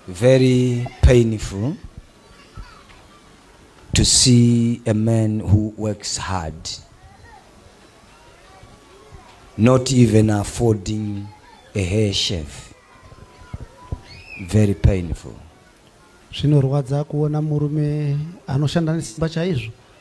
Very painful to see a man who works hard not even affording a hair shave. Very painful. Zvinorwadza kuona murume anoshanda nesimba chaizvo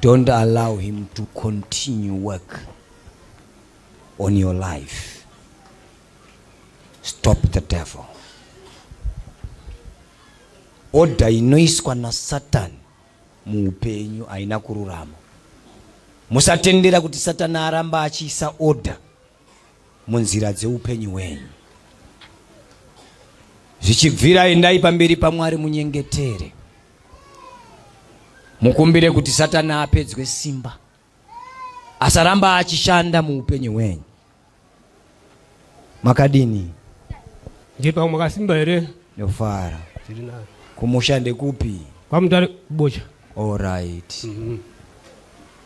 Don't allow him to continue work on your life. Stop the devil. Oda inoiswa na Satan muupenyu haina kururama. Musatendera kuti Satan aramba achiisa oda munzira dzeupenyu hwenyu. Zvichibvira endai pamberi paMwari munyengetere, mukumbire kuti Satana apedzwe simba, asaramba achishanda muupenyu hwenyu. Makadini? Ndipo makasimba here? Ndofara. Kumusha ndekupi? Kwamutare kubocha. All right. Mm -hmm.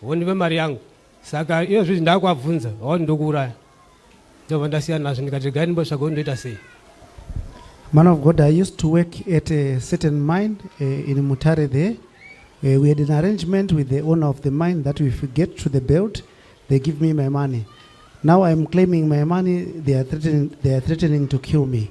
hondive mari yangu saka iyo zvizvi ndakuabvunza waoni ndokuuraya ndobva ndasiya nazvo ndikati regai ndimbotsvaga kuti ndoita sei man of god i used to work at a certain mine uh, in mutare there uh, we had an arrangement with the owner of the mine that if we get to the belt they give me my money now i'm claiming my money they are threatening, they are threatening to kill me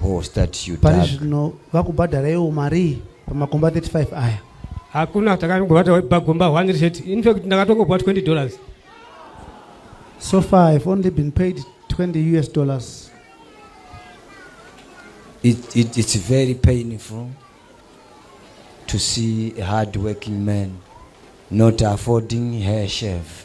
Bhoo start you pari tag. zvino vakubhadharaiwo marii pamakomba 35 aya hakuna takangobata pagomba one chete in fact ndakatongopuwa 20 dollars so far i've only been paid 20 us dollars It, it, it's very painful to see a hard working man not affording her shave.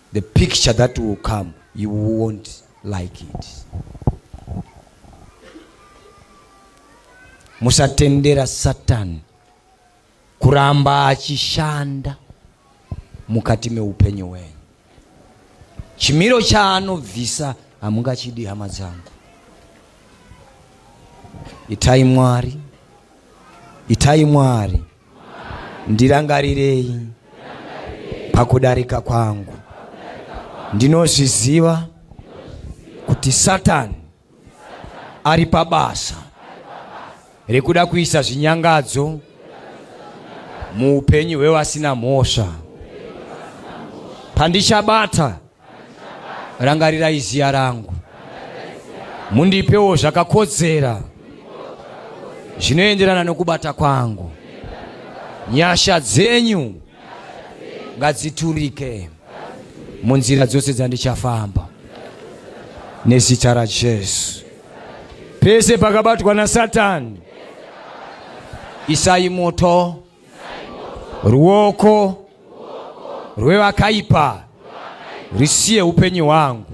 the picture that will come you won't like it musatendera satani kuramba achishanda mukati meupenyu hwenyu chimiro chaanobvisa hamungachidi hama dzangu itai mwari itai mwari ndirangarirei pakudarika kwangu. Ndinozviziva kuti Satani ari pabasa rekuda kuisa zvinyangadzo muupenyu hwevasina mhosva. Pandichabata rangarirai ziya rangu mundipewo zvakakodzera zvinoenderana nokubata kwangu nyasha dzenyu ngadziturike munzira dzose dzandichafamba nezita rajesu pese pakabatwa nasatani isai moto ruoko rwevakaipa risiye upenyu hwangu.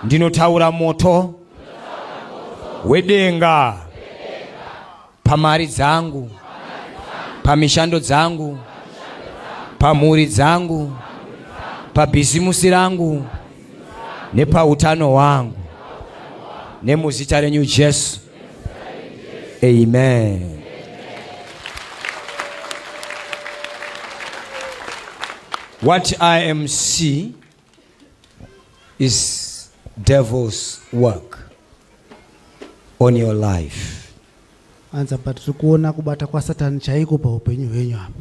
Ndinotaura moto wedenga pamari dzangu, pamishando dzangu, pamhuri dzangu, pabhizimusi rangu nepautano hwangu nemuzita renyu Jesu. Amen. What I am see is devil's work on your life. Anza but tikuona kubata kwa Satan chaiko pa upenyu hwenyu hapa.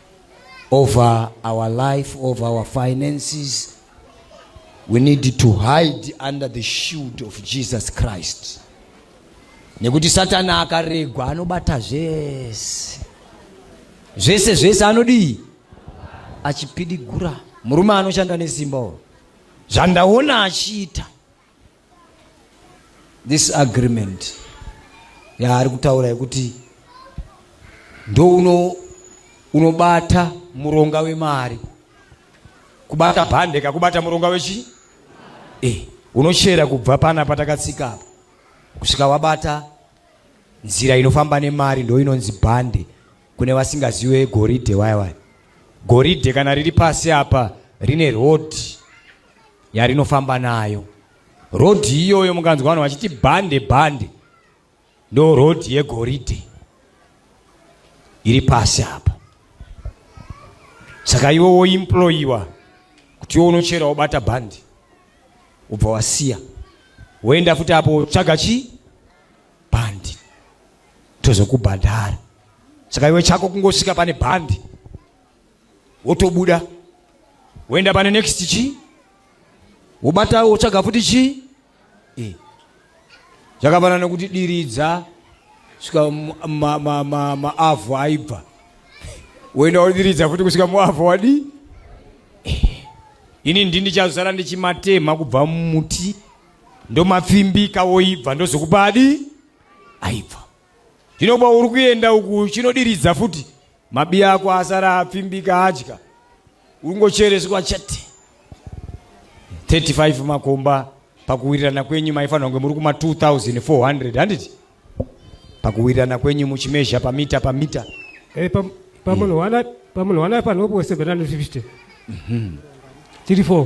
over our life, over our finances. We need to hide under the shield of Jesus Christ. Nekuti Satana akaregwa anobata zvese. Zvese zvese anodii? Achipidigura. Murume anoshanda nesimba uyo. Zvandaona achiita. This agreement yaari kutaura yekuti ndouno unobata muronga wemari kubata bhande kakubata muronga wechi eh, unochera kubva pana patakatsika apa kusvika wabata nzira inofamba nemari ndo inonzi bhande Kune vasingaziwe goridhe waya waya. Goridhe kana riri pasi apa rine road yarinofamba nayo. Road iyoyo mukanzwa vanhu vachiti bande bande ndo road yegoridhe iri pasi apa. Saka iwe woimployiwa kuti iwe unochera wobata bhandi ubva wasiya woenda futi apo tsvaga chii bhandi tozokubhadhara saka iwe chako kungosvika pane bhandi wotobuda woenda pane next chii wobata wotsvaga futi chii e. zvakafanana nokuti diridza svika maavhu aibva woenda wodiridza futi kusvika muavhu wadii ini ndini chazara ndichimatema kubva mumuti ndomapfimbika woibva ndozokupa adi aibva zvino kuba uri kuenda uku chinodiridza futi mabiya ako asara apfimbika adya ungochereswa chete 35 makomba pakuwirirana kwenyu maifanira kunge muri kuma 2400 handiti pakuwirirana kwenyu muchimezha pamita pamita eh, pamunhu wana pamunhu wana panopo 750 tiri 4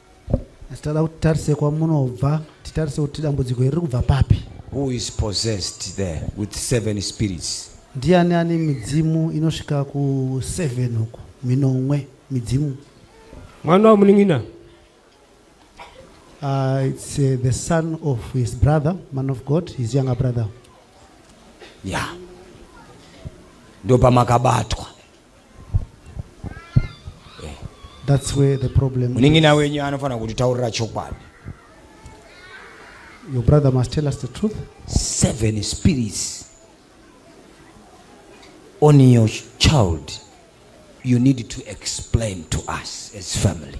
Asi tada kuti tarise kwamunobva, titarise kuti dambudziko iri kubva papi. Who is possessed there with seven spirits? Ndiani ane midzimu inosvika ku seven uko, minomwe midzimu. Mwana wa munin'ina. Uh, it's uh, the son of his brother, man of God, his younger brother. Yeah. Ndio pamakabatwa. That's where the problem munin'ina wenyu anofanira kutitaurira chokwadi your brother must tell us the truth seven spirits on your child you need to explain to us as family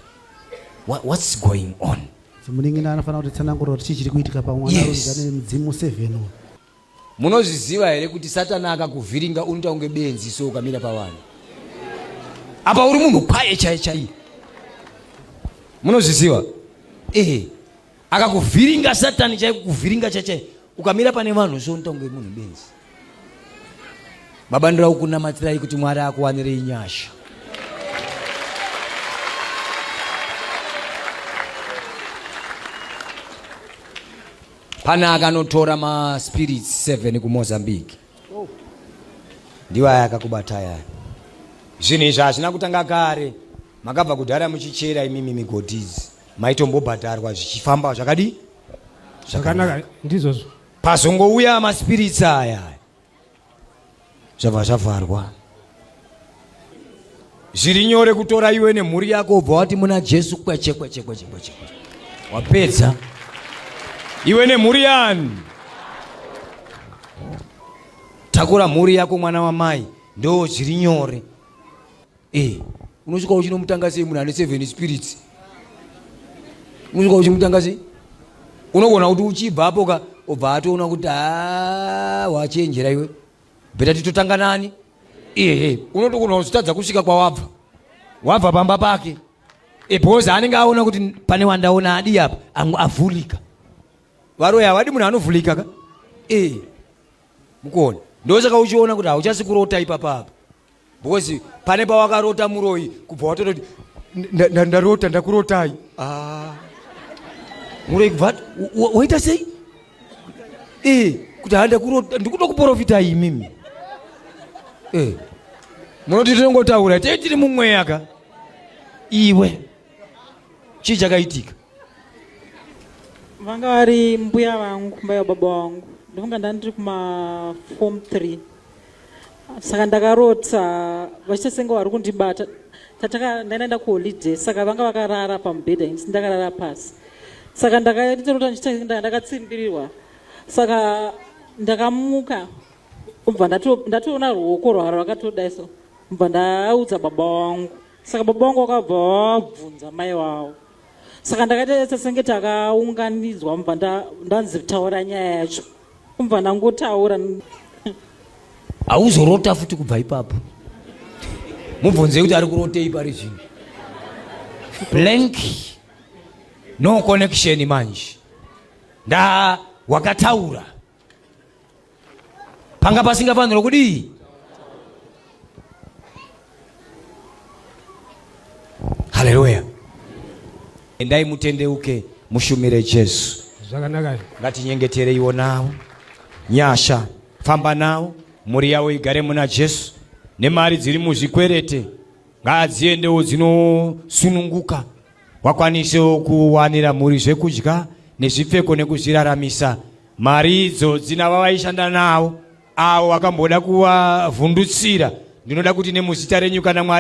What, what's going on munin'ina anofanira kuti tsanangurwa kuti chii chiri kuitika pamwana yes. mudzimu seven Munozviziva here kuti Satani akakuvhiringa unoita kunge benzi so ukamira pavanhu apa uri munhu kwaye chaiye chaiye. Munozviziva ehe, akakuvhiringa Satani chaiye kukuvhiringa chaiye ukamira pane vanhu so unoita kunge munhu benzi. Baba ndira kukunamatirai kuti Mwari akuwanirei nyasha. Pane akanotora maspirits 7 kuMozambique. Oh. Ndiwo aya akakubata aya. Zvinhu izvi hazvina kutanga kare. Makabva kudhara muchichera imimi migodhi idzi. Maitombobhadharwa zvichifamba zvakadi? Zvakanaka ndizvozvo. Pazongouya maspirits aya. zvabva zvavharwa zviri nyore kutora iwe nemhuri yako ubva wati muna jesu kweche kweche kweche kweche wapedza iwe nemhuri yani takura mhuri yako mwana wamai ndo zviri nyore Eh, unosvika uchinomutanga sei munhu ane seven spirits? Unosvika uchimutanga sei? Unogona kuti uchibva apo ka obva atoona kuti haa ah, wachenjera iwe. Bheta titotanga nani? Ehe, unotogona kuzotadza kusvika kwawabva. Wabva pamba pake. Eh, because anenge aona kuti pane wandaona adi apa, angu avhulika. Varoya havadi munhu anovhulika ka? Eh. Mukuona? Ndosaka uchiona kuti hauchasi kurota ipapa apa. because pane pawakarota muroyi kubva watototi ndarota ndakurotai ah. muroyi kubva waita sei eh, kuti ha ndakurota ndikuda kuporofita imimi eh. munoti tinongotaura tei tiri mumweya ka iwe chii chakaitika vanga vari mbuya vangu mbuya baba vangu ndofunga ndandiri kuma form three saka ndakarota vachita senge vari kundibata tataka ndainaenda kuholiday saka vanga vakarara pamubhedha ini ndakarara pasi saka ndakatarota ndichitaenda ndakatsimbirirwa saka ndakamuka ubva ndatoona ruoko rwaro rwakatodai so ubva ndaudza baba wangu saka baba wangu wakabva wabvunza mai wavo saka ndakaita senge takaunganidzwa mubva ndanzi taura nyaya yacho Kubva ndangotaura. Hauzorota futi kubva ipapo. Mubvunze kuti ari kurotei pari zvino. Blank. No connection manje. Nda wakataura. Panga pasingafanirwa kudii? Haleluya. Endai mutendeuke mushumire Jesu. Zvakanaka. Ngatinyengetereiwo nawo. Nyasha famba nawo mhuri yavo igare muna Jesu nemari dziri muzvikwerete ngadziendewo dzinosununguka wakwanisewo kuwanira mhuri zvekudya nezvipfeko nekuzviraramisa mari idzo dzina vavaishanda nawo Avo vakamboda kuvavhundutsira, ndinoda kuti nemuzita renyu kana Mwari